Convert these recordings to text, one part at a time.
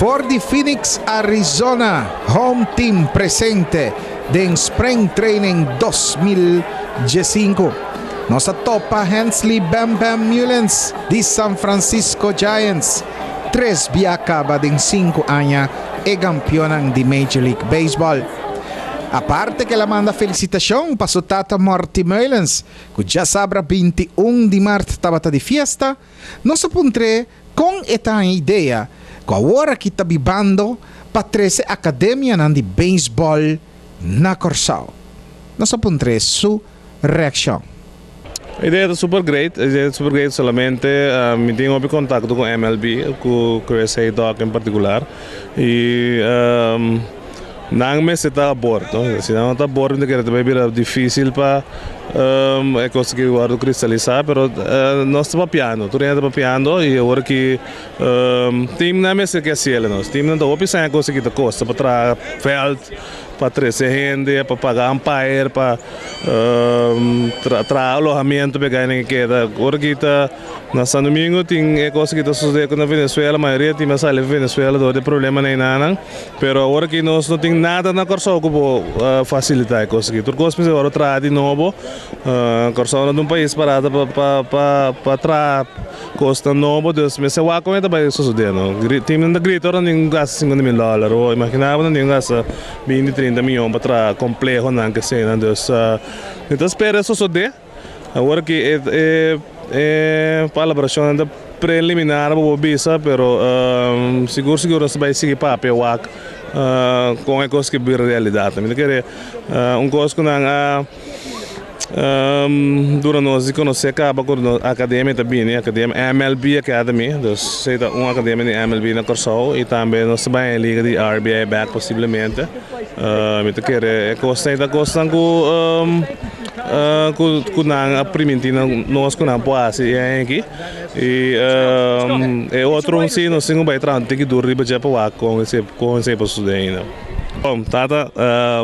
For di Phoenix, Arizona, Home Team presente den Spring Training dos mil diesinku. Nos a topa Hensley Bam Bam Mullens di San Francisco Giants, tres bia kaba den sinku aña e gampiónan di Major League Baseball. Aparte kela manda felisitashon pa su tata Morty Mullens, ku djasabra binti un di mart tabata di fiesta, Nos a puntr'é kon e ta han idea ku aworaki ta bibando pa trese akademianan di beisbòl na Kòrsou. Nos a puntr'é su reakshon. E idea ta super great. E idea ta super great solamente mi tin hopi kontakto ku MLB, ku Chris Haydock en partikular. I. Nan mester ta a bord. Si nan no ta a bord mi ta kere ta bai bira dificil pa e cos aki wordo cristaliza pero nos ta papiando tur día nan ta papiando y awor aki team nan mester ke hacela nos. Team nan ta hopi saña cos aki ta costa pa traha veld pa trece hende pa paga umpire pa traha alojamiento pa e guy nan ke keda awor aki ta Na San Domingo tin e cosa ki ta sucede acu na Venezuela, mayoria tin a sali di Venezuela dor di e problema na e nannan, pero awor aki nos no tin nada na Corsou cu por facilita e cosa aki, tur cos mester wor traha di nobo, Corsou no ta un pais parado pa traha cosnan nobo, dus mester wak con e ta bay sucede no, tin nan ta grita ora nan tin gasta cincuenta mil dollar, o imagina bo nan tin gasta binti trinta miyon pa traha complehonan, kesenan, dus mi ta spera e sucede. Awor ki e palabracionnan ta preliminar bo por bisa pero sigur sigur nos ta bay sigui papia wak con e cos ki bira realidad. Mi ta kere un cos cu nan a dura nos di conoce caba cu academia ta bini academia mlb academy dus esey ta un academia di mlb na Kòrsou y tambe nos ta bay en liga di RBI back posiblemente mi ta kere e cosnan ta cosnan cu. Ku nan a primintí nos ku nan por hasi e aña aki. I e otro un si nos tin ku bai traha tin ki dur riba dje pa wak kon esei por susidé ainda. Tata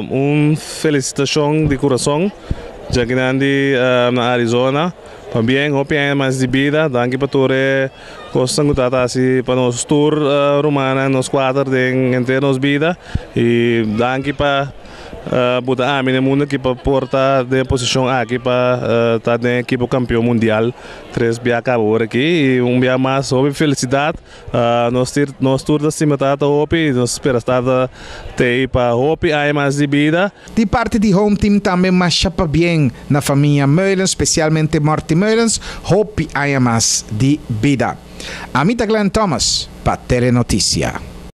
un felisitashon di kurason dje kinan di Arizona pa bien hopi aña mas di bida. Danki pa tur e. Kosnan ku Tata hasi pa nos tur rumannan, nos kuater den henter nos bida i danki pa bo ta ami den mundu aki pa por ta den e posishon aki pa ta den e ekipo kampeon mundial tres bia kaba ora aki i un bia mas hopi felisidat nos tur nos tur ta stima Tata hopi nos spera Tata ta ei pa hopi aña mas di bida. Di parti di Home Team tambe masha pabien na famia Meulens, specialmente Morty Meulens, hopi aña mas di bida. Ami ta Glen Thomas pa Telenoticia.